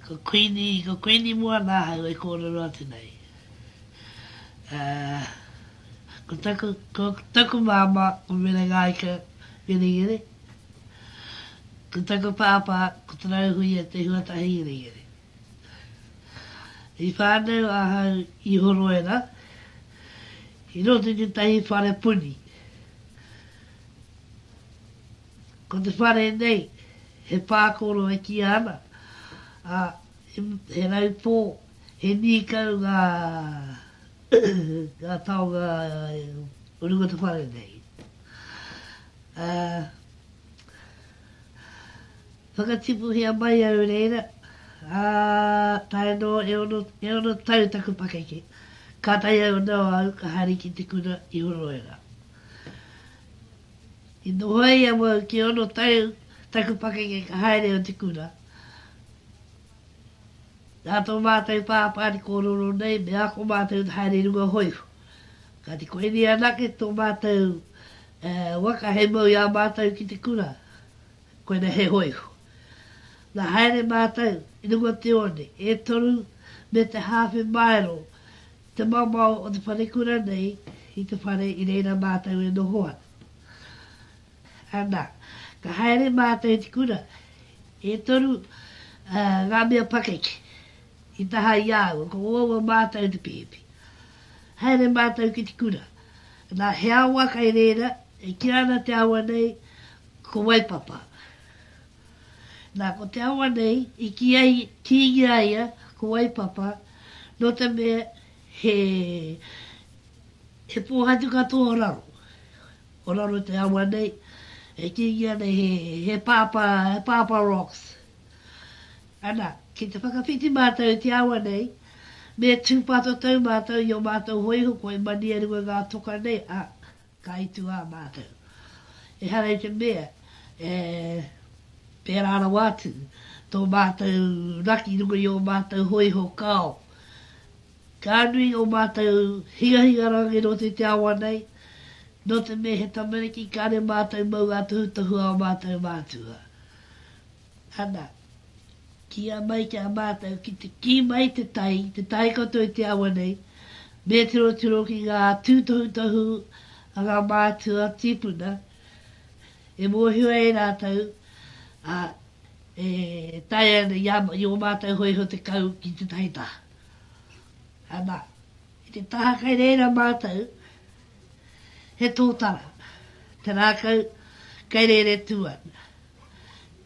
Ko Kuini, ko Kuini mua nā ahau e kōrero atu nei. Ko taku, ko taku māmā, ko Mere Ngāika Ngerengere. Ko taku pāpā, ko Te Rauhuia Te Huatahi Ngerengere. I whānau ahau i Horoera, i roto i tētahi whare puni. Ko te whare nei, he pākoro e kīa ana, ā, he raupō, he nīkau ngā ngā taonga o runga te whare nei. Ā, whakatipuhia mai au reira, ā, tae noa e ono, e ono tau taku pakeke, kātahi au nō au ka haere ki te kura i Horoera. I noho ai awau ki ono tau taku pakeke ka haere o te kura. Nā tō mātou pāpā te kōrero nei me ako mātou te haere i runga hōiho. Kāti koinei anake tō mātou waka hei mau i a mātou ki te kura, koinei he hōiho. Nā haere mātou i runga o te one, e toru me te hāwhe māero Te maomao o te wharekura nei i te whare i reira mātou e noho ana. Anā, ka haere mātou i te kura, e toru ngā mea pakeke i taha i a au, ko uaua mātou te pihipi. Haere mātou ki te kura, anā, he awa kai reira e kīa ana te awa nei ko Waipapa. Nā, ko te awa nei i kīia i, kīngi a ia ko Waipapa, nō te mea he, he pōhatu katoa o raro. O raro te awa nei, e kīngi ana he, he pāpā, he pāpā rocks. Ana, ki te whakawhiti mātou i te awa nei, me tūpātatau mātou i ō mātou hōiho kua i Maniaruwa ngā toka nei, ā. Ka itu ā mātou. Ehara i te mea e pērā rawa atu tō mātou raki i runga i ō mātou hōiho kao. Ka nui ō mātou higahiga rāngai nō te te awa nei, nō te mea he tamariki kāre mātou mau ā-tohutohu ā mātou mātua. Ana. Kīia mai ki a mātou ki te kī mai te tai, te tai katoa i te awa nei, me tirotiro ki ngā tūtohutohu a ngā mātua tīpuna, e mōhio ai rātou, ā, e taea ana i ō mātou hōiho te kau ki tētahi taha. Anā, i te taha kai reira mātou, he tōtara, te rākau kai rere tū ana.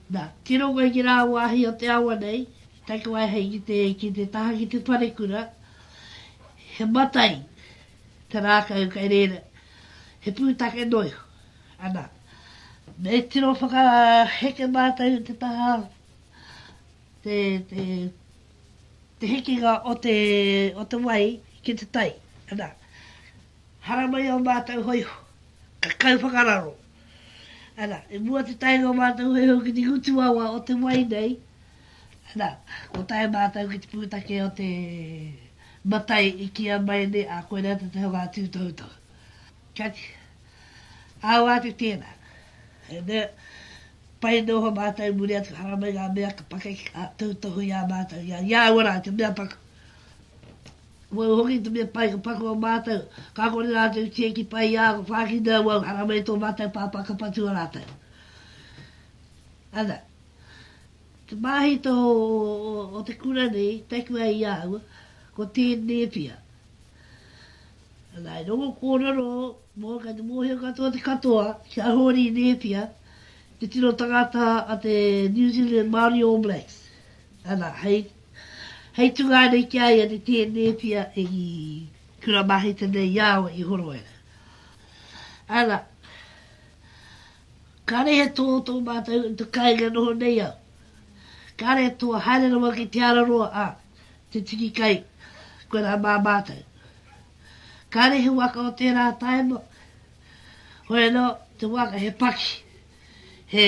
Na, ki runga i ngi rā wāhi o te awa nei, tai ko ai hei ki te, ki te taha ki te parekura, he matai te rākau kai rēra, he pūtake noiho. Ana, me tiro whakaheke mātou te taha, te, te, te hekinga o te, o te wai ki te tai. Ana, haramai o mātou hoiho, ka kau whakararo, Ana, i mua te taenga o mātou hoihoi ki te ngutu awa o te wai nei, ana, ko tae mātou ki te pūtake o te matai i kīa mai nei, ā, koinā te taha o ngā tūtohutohu. Kāti, awa atu tēnā. E nē, pai nō ho mātou i muri atu haramai ngā mea ka pakeke, ā, tūtohu i a mātou, i a, i a ua rā, te mea paku. Wau hoki te mea pai ka paku a matou, ka kore ratou i tieki pai i a, ka whakina au au, haramai i to matou papa ka patua ratou. Ana, te mahito o te kura nei i taku ai i au, ko Te Nepia. Ana, i rongo kororo, mo kai te mohio katoa te katoa, ki a Hori Nepia, te tino tangata a te New Zealand Maori All Blacks. Ana, hei Hei tungā nei ki a ia ne tēnētia e i kura maheta nei i a au e Ihoroera. Ana, kare he tō tō mātou i te kainga noho nei au. Kare he tō haere rawa ki te ara roa a te tiki kai koe rā mā mātou. Kare he waka o tērā taima, hoi anō, te waka he paki, he...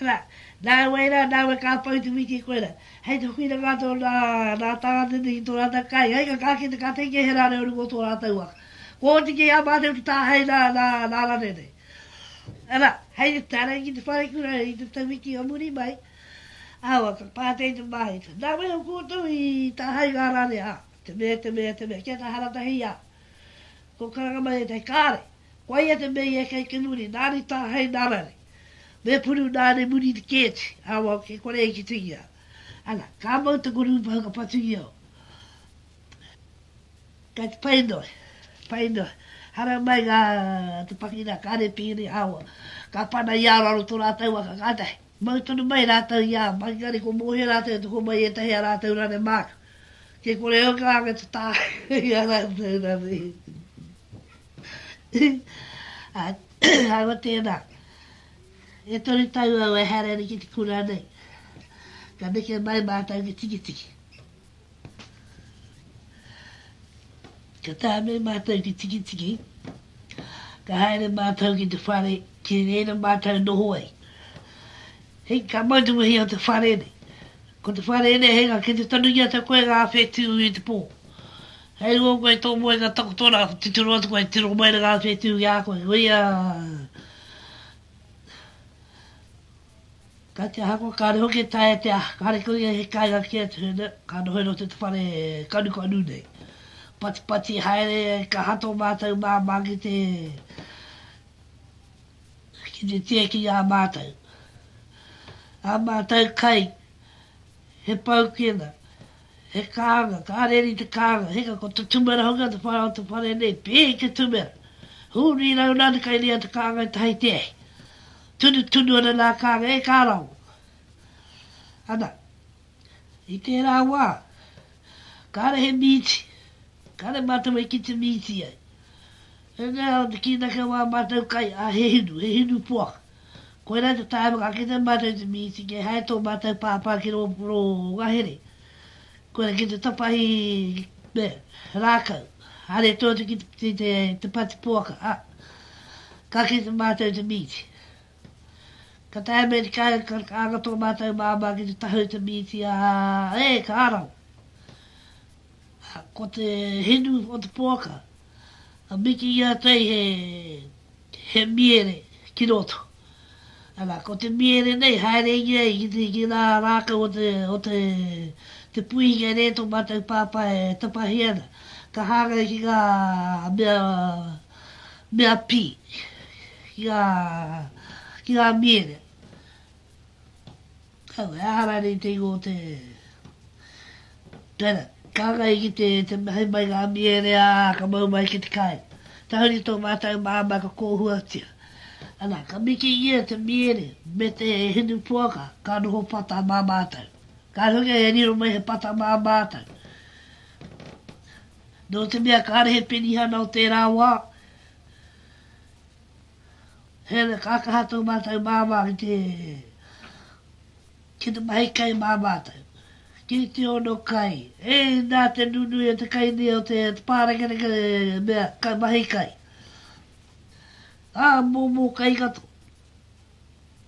Ana, nāwai rā, nāwai ka pau te wiki i koe rā. Hei te whakina ngā tau nā, nā Tāne nei ki tō rātau kai, hei ka ka kite ka te inge he rā reo ringa o tō rātau waka. Kō hoki kei a mātau ki tāhei nā, nā, nā Rane nei. Ana, hei te tarangi ki te wharekura i te tau wiki o muri mai, awa, ka pātei te māhita. Nāwai o koutou i tāhei ngā Rane, a, te mea, te mea, te mea, kia tahara tahi, a, Ko Karangama ētahi kāre. Koa ia te mea i eke ai ki muri, nāri tāhei nā rare. Me puru nāne muri te kēti, awau kei kore i kitingia. Ana, ka mau te kurupa haka patungia o. Kei te pai noa, pai noa. Hara mai ngā te pakina kāre pīri, awau. Ka pana i a raro to rātou waka kātahi. Mau tonu mai rātou i ā Makikari ko Mōhio rātou e toko mai i ētahi a rātou rane māka. Kei kore au ka anga te tāhū i a rātou rane. Ahakoa tēnā, e toru tau au e haere ana ki te kura nei, ka neke mai mātou ki Tikitiki. Ka tae me mātou ki Tikitiki, ka haere mātou ki te whare ki reira mātou noho ai. Hei, ka mau te wehi o te whare nei. Ko te whare nei hei ngā kete tonu ki a tau koe ngā awhe tū i te pō. Hei rua koe tō moe ngā takotora tuturu atu koe tiro mai na ngā awhe tū ki a koe. Koia! Kai te hako, kāre hoki e taea te aha, kāre kau ia he kāinga kē atu nei, ka noho i roto i te whare kanukanu nei. Patipati haere ia i ka hato mātou māmā ki te ki te tieki i a mātou. A mātou kai, he paukena, he kānga, ka reri te kānga, hika ko te tumera hoki o te whare o te whare nei, pēhi te tumera. Hū, rīrau nā te kai ria te kānga e tahi te ahi. Tunutunu ana nā Kānga e Kārawa. Ana, i tērā wā, kāre he mīti, kāre mātou e kite mīti ai. E mea ana te kīnaki o ā mātou kai, ā, he hinu, he hinu poaka. Koirā te tae whakakite mātou i te mīti kia hae tō mātou pāpā ki rō ngahere. Koia ki te tapahi me Rākau, haere tō te kitipiti te pati poaka, a, ka kite mātou te mīti. Ka taea me te kai, ka anga tō mātou māmā ki te tahau te mīti, a, e, ka raro. Ko te hinu o te poaka. a miki i a tei he he miere ki roto ara ko te miere nei haere inge ai ki te ki ra rakau o te o te te puihi kei re to matou papa e tapahi ana ka hangai ki nga mea mea pi ki nga ki nga miere Kau, he aha rānei te ingoa o te Tera, kāngai ki te, te mahi mai ngā miere, ā, ka mau mai ki te kai. Tahuri tō mātou māmā ka kōhuatia. Ana, ka mikingia te miere me te hinu poaka ka noho pata mā mātou. Kāre hoki e riro mai he pata mā mātou. Nō te mea kāre he penihana o tērā wā, Heoi, ka kaha tō mātou māmā ki te, ki te mahi kai mā mātou. Ki te ono kai, e, nā te nunui o te kainii o te pārekereke mea kai mahi kai. Ā, mōmō kai katoa.